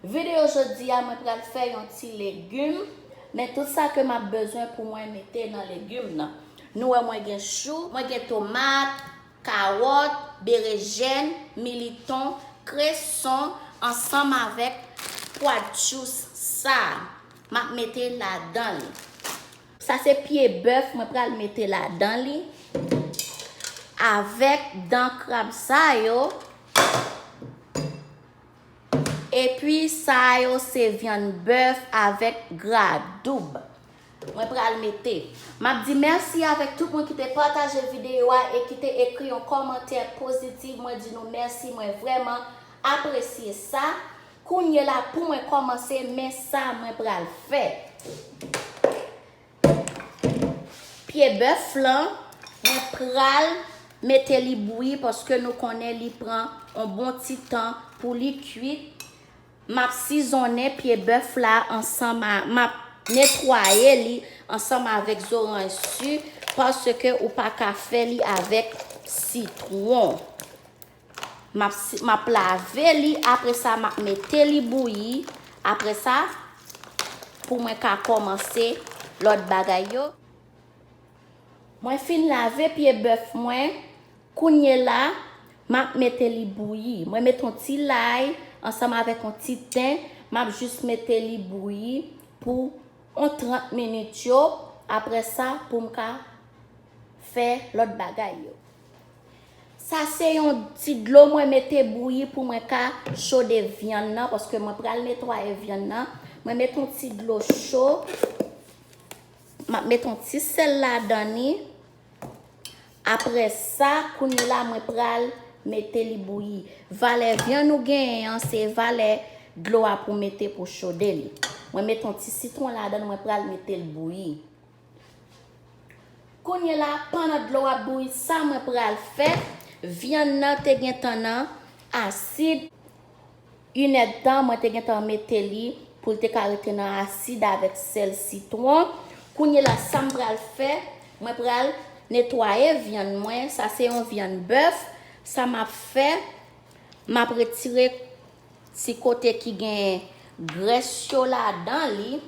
Video jodi a mwen pral fè yon ti legum men tout sa ke map bezwen pou mwen mete nan legum nan nou wè mwen gen chou mwen gen tomat kawòt berejèn militon kreson ansanm avèk pwa djous sa map mete ladan li sa se pye bèf mwen pral mete ladan li avèk dan krab sa yo. Epi sa yo se vyann bèf avèk gra doub. Mwen pral mete. Map di mèsi avèk tout moun kite pataje video a e kite ekri yon kòmantè positive mwen di nou mèsi mwen vrèman apresye sa kounyela pou mwen kòmanse men sa mwen pral fè. Pye bèf lan mwen pral mete li bouyi paske nou konnen li pran on bon ti tan pou li kuit. Map sizonnen pye bèf la ansanm a, map netwaye li ansanm avèk zoranj su paske ou pa ka fè li avèk sitwon. M ap lave li, apre sa m ap mete li bouyi, apre sa pou mwen ka kòmanse lòt bagay yo. Mwen fin lave pye bèf mwen, kounyela m ap mete li bouyi. Mwen mete yon ti lay ansanm avèk yon ti ten, m ap jis mete li bouyi pou yon 30 minit yo, apre sa pou m ka fè lòt bagay yo. Sa se yon ti dlo mwen mete bouyi pou mwen ka chode vyann nan paske mwen pral netwaye vyann nan. Mwen met yon ti dlo cho. M ap met yon ti sèl ladan li. Apre sa, kounye la mwen pral mete li bouyi. Valè vyann ou genyen an se valè dlo a pou mete pou chode li. Mwen met yon ti sitwon ladan li mwen pral mete li bouyi. Kounye la pandan dlo ap bouyi sa mwen pral fè vyann nan te gentan nan asid yn èdtan mwen te gentan mete li poul te ka rete nan asid avèk sèl sitwon kounye la sam pral fè mwen pral netwaye vyann mwen sa se yon vyann bèf sa map fè map retire ti kote ki gen grès yo ladan li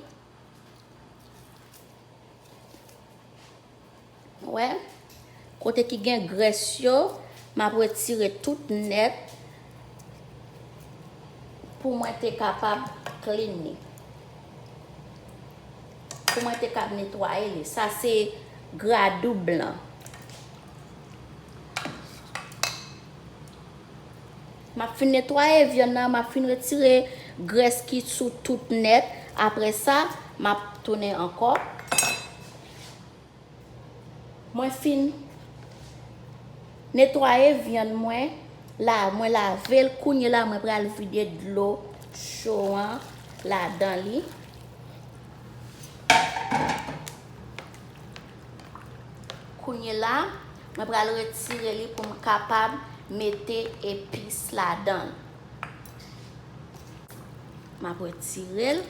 Wè, kote ki gen grès yo, m ap retire tout nèt pou mwen te kapab clean li. Pou mwen te kab netwaye li. Sa se gradou blan. Map fin netwaye vyann nan, map fin retire grès ki sou tout nèt, aprè sa map tounen ankò mwen fin netwaye vyann mwen la mwen lavel kounye la mwen pral vide dlo cho an ladan li. Kounyela mwen pral retire li pou m kapab mete epis ladan l. Map retire l.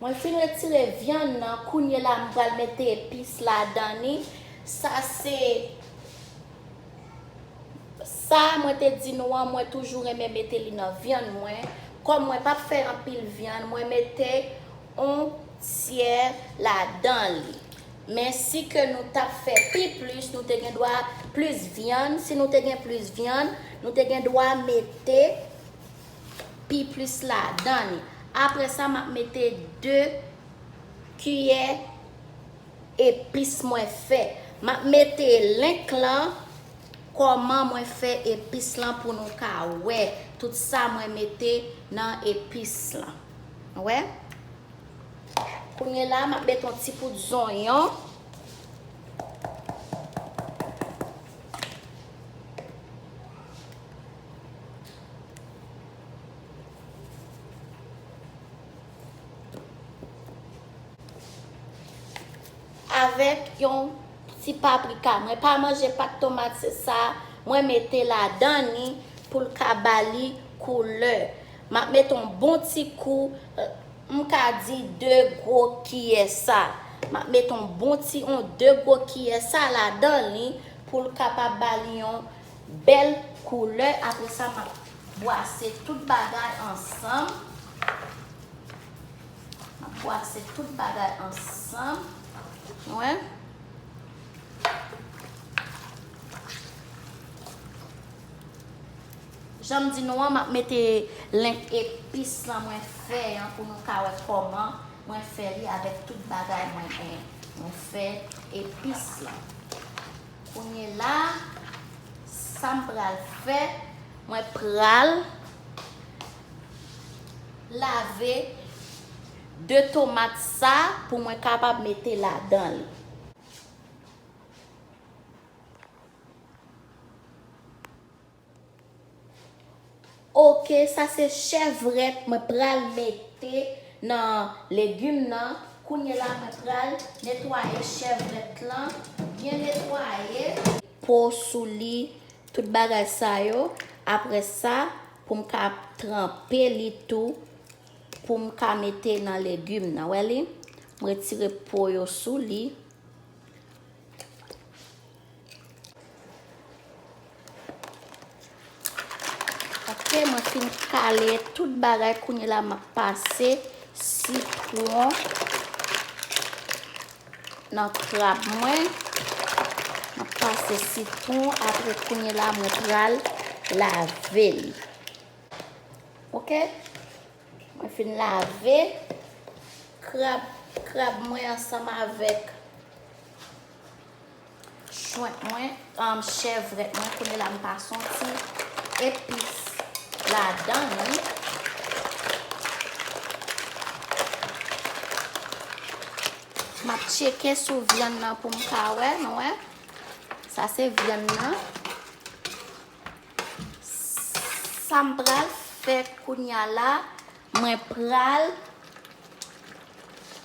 Mwen fin retire vyann nan, kounye la m pral mete epis ladan ni. Sa se sa mwen te di nou an mwen toujou renmen mete li nan vyann mwen. Kòm mwen pap fè anpil vyann, mwen mete on tyè ladan li men si ke nou tap fè pi plis nou te gen dwa plis vyann si nou te gen plis vyann nou te gen dwa mete pi plis ladan li apre sa map mete 2 kiyè epis mwen fè map mete link lan kòman mwen fè epis lan pou nou ka wè tout sa mwen mete nan epis lan. Nou wè? Kounye la a, m ap mete yon ti poud zonyon. Avèk yon ti paprika. Mwen pa manje pat tomat se sa mwen mete ladan li pou l ka ba li koulè. M ap met on bon ti kou, m ka di de gwo kiyè sa. M ap met on bon ti on de gwo kiyè sa ladan li pou l kapab ba li yon bèl koulè. Apre sa, m ap bwase tout bagay ansanm. M ap bwase tout bagay ansanm. Ou wè? Janm di nou an map mete link epis lan mwen fè an pou nou ka wè kòman mwen fè li avèk tout bagay mwen genyen mwen fè epis lan kounye la sam pral fè mwen pral lave 2 tomat sa pou mwen kapab mete ladan li. Ok sa se chèvrèt mwen pral mete nan legume nan kounye la mwen pral netwaye chèvrèt lan byen netwaye. Po sou li tout bagay sa yo aprè sa pou m ka tranpe li tou pou m ka mete nan legume nan wè li m retire po yo sou li. Apre mwen fin kale tout bagay kounye la map pase sitwon nan krab mwen. Map pase sitwon apre kounye la mwen pral lave l. Ok? Mwen fin lave krab mwen ansanm avèk. Shrimp mwen, chèvrèt mwen, kounye la m pa santi epis ladan li. M ap tcheke sou vyann nan pou m ka wè, nou wè. Sa se vyann nan. Sa m pral fè kounya la, Mwen pral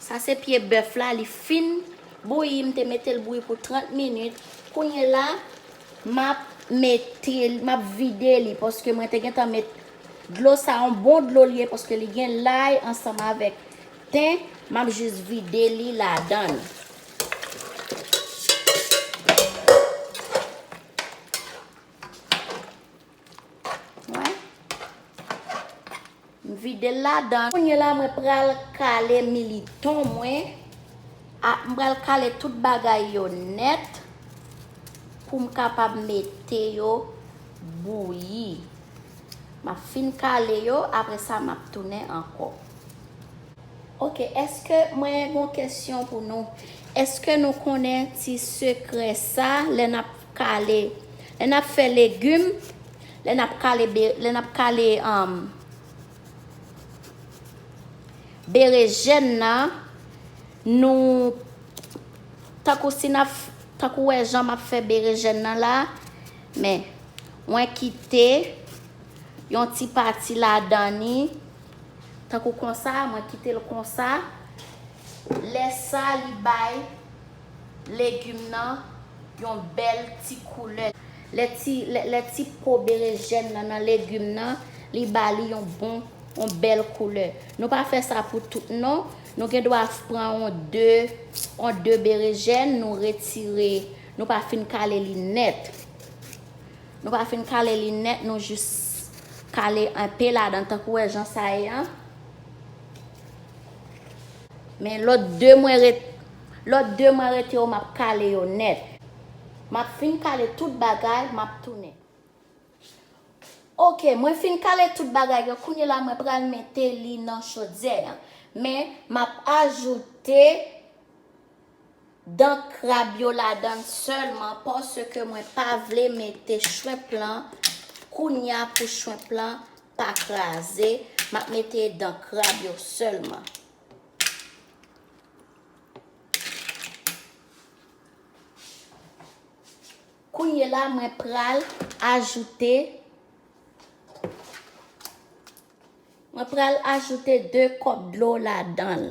Sa se pye bèf la li fin bouyi m te metel bouyi pou 30 minit kounye la map metel map vide li paske mwen te gentan met dlo sa yon bon dlo li ye paske li gen lay ansanm avèk ten map jis vide li ladann. Wè. M vide l ladan. Kounye la mwen pral kale militon mwen. A, m pral kale tout bagay yo nèt pou m kapab mete yo bouyi. M ap fin kale yo, apre sa m ap tounen ankò. Ok, èske mwen gen yon kesyon pou nou? Èske nou konnen ti sekrè sa lè n ap. Kale. Lè nap fè legum, lè nap kale be, lè nap kale um berejèn nan, nou tankou si nap, tankou ou wè jan map fè berejèn nan la, men mwen kite yon ti pati ladan ni tankou konsa, mwen kitel konsa, lè sa li bay. Legum nan yon bel ti koulè. Lè ti po berejèn nan nan legum nan, li ba li yon bon, yon bel koulè. Nou pa fè sa pou tout non. Nou gen dwa pran yon 2, yon 2 berejèn, nou retire, nou pa fin kale li nèt. Nou pa fin kale li nèt, nou jis kale enpe ladan tankou wè jan sa ye an. Men lòt 2 mwen ret. Lòt 2 mwen rete yo map kale yo nèt. Map fin kale tout bagay map tounen. Ok mwen fin kale tout bagay yo kounye la mwen pral mete li nan chodyè an men map ajoute dan krab yo ladann sèlman paske mwen pa vle mete shrimp lan kounya pou shrimp lan pa kraze map mete dan krab yo sèlman. Kounye la mwen pral ajoute mwen pral ajoute 2 kòp dlo ladanl.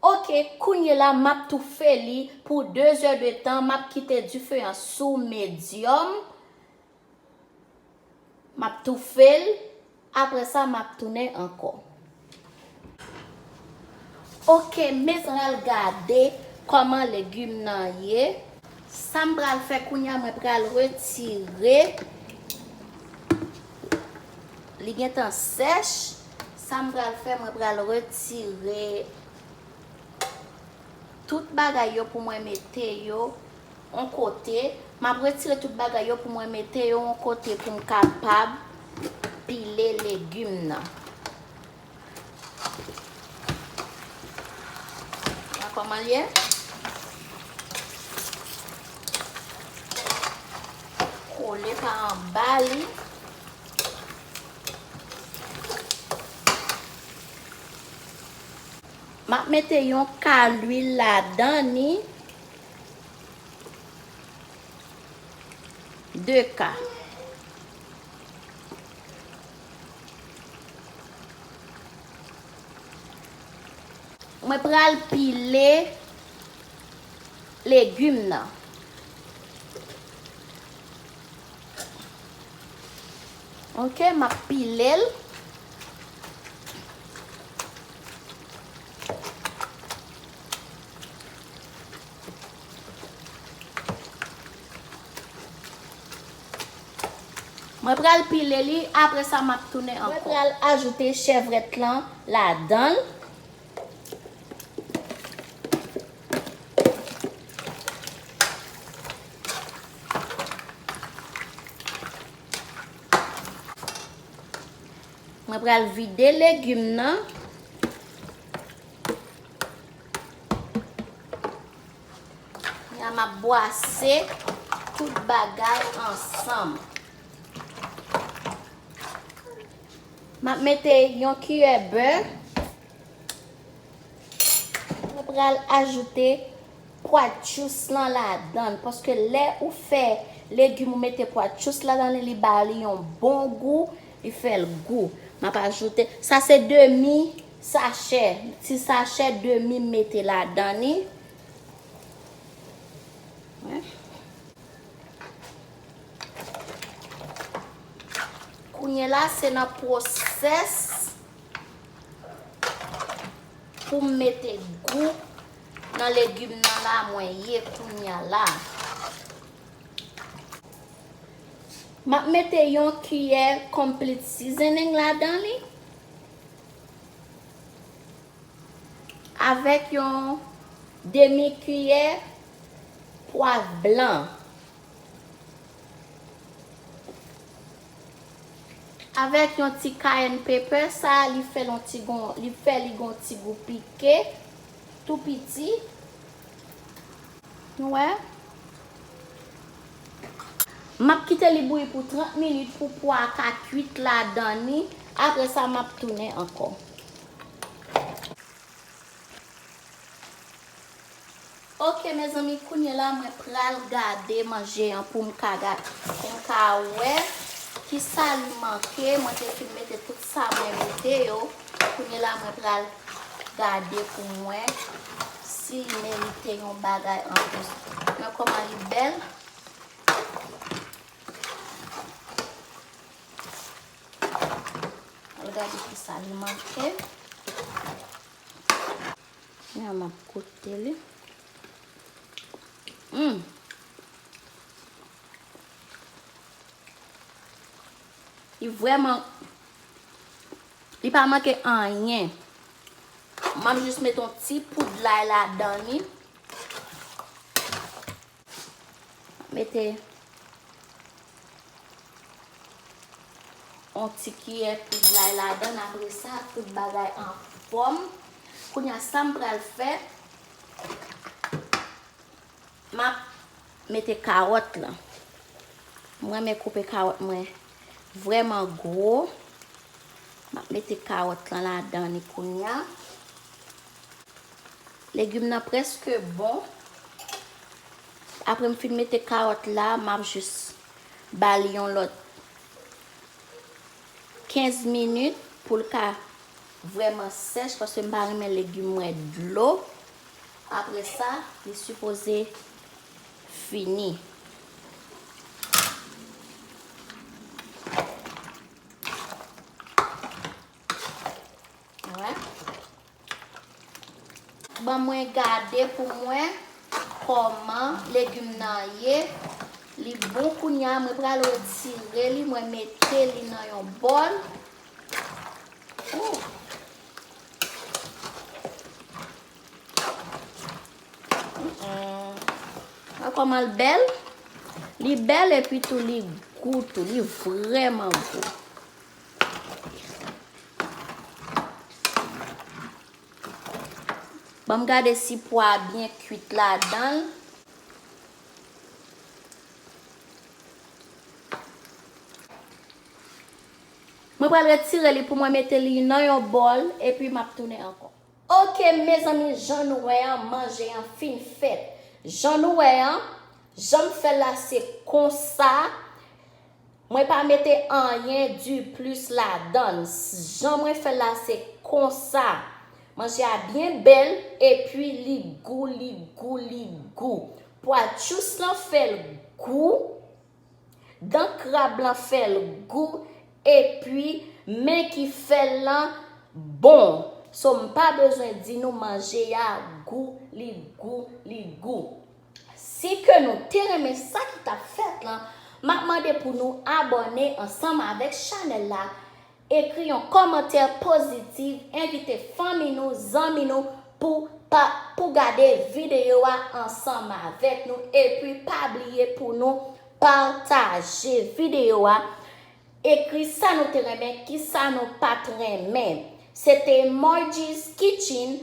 Ok kounye la map toufe li pou 2 zè de tan map kite dife an sou medyòm map toufel aprè sa map tounen ankò. Ok me pral gade kòman legume nan ye. Sam pral fè kounya mwen pral retire li gentan sèch. Sa m pral fè, mwen pral retire tout bagay yo pou mwen mete yo yon kote. M ap retire tout bagay yo pou mwen mete yo yon kote pou m kapab pile legim nan. Wè kòman l ye? Kole pa anba li. Map mete yon ka lwil ladan ni 2 ka. Mwen pral pile legum nan. Ok map pilel. Mwen pral pile li apre sa map tounen anko. Mwen pral ajoute chèvrèt lan ladanl. Mwen pral vide legume nan. Ya ma bwase tout bagay ansanm. M ap mete yon kiyè bè. Mwen pral ajoute poitrjous lan ladan l paske lè ou fè legim ou mete poitrjous ladan li li ba li yon bon gou, li fè l gou. M ap ajoute, sa se demi sachè, ti sachè demi m mete ladan li. Kounye la se nan pwosès pou m mete gou nan legim nan la mwen ye kounya la. M ap mete yon kiyè complete seasoning ladan li avèk yon demi kiyè pwav blan. Avèk yon ti cayenne pepper sa li fè l on ti gon li fè li gon ti gou pike tou piti nou wè. Map kite li bouyi pou 30 minit pou pwa a ka kuit ladan ni apre sa map tounen ankò. Ok mezanmi kounye la mwen pral gade manje an poum ka gad poum ka wè kisa li manke mwen te fin mete tout sa mwen mete yo kounye la mwen pral gade poum wè si li merite yon bagay anplis mwen koman li bèl. Al gade kisa li manke. Kounya map goute li. Humm. Li vreman. Li pa manke anyen. Map jis met yon ti poud lay ladan li. Mete yon ti kiyè poud lay ladann apre sa tout bagay an fòm. Kounye a sa m pral fè m ap mete kawòt lan. M renmen koupe kawòt mwen vrèman gwo. M ap mete kawòt lan ladann li kounye a. Legume nan preske bon. Apre m fin mete carotte la, m ap jis ba li yon lòt 15 minit pou l ka vrèman sèch paske m pa renmen legume mwen dlo. Apre sa, li sipoze fini. Ban mwen gade pou mwen koman legume nan ye li bon kounya mwen pral retire li mwen mete li nan yon bol wè koman l bel li bel epi tou li gou tou li vreman gou. Banm gade si pwa a byen kwit ladanl. Mwen pral retire li pou mwen mete li nan yon bòl epi map tounen ankò. Ok mezanmi jan nou wè an manje an fin fèt. Jan nou wè an janm fèl la se konsa. Mwen pa mete anyen du plus ladann jan mwen fèl la se konsa manje a byen bèl epi li gou li gou li gou pwa tchous lan fèl gou dan krab lan fèl gou epi men ki fèl lan bon so mpa bezwen di nou manje a gou li gou li gou. Si ke nou te renmen sa ki tap fèt lan map mande pou nou abòne ansanm avèk chanèl la ekri yon kòmantè pozitiv envite fanmi nou zanmi nou pou pa pou gade videyo a ansanm avèk nou epi pa bliye pou nou pataje videyo a ekri sa nou te renmen kisa nou pat renmen se te Margie's kitchen.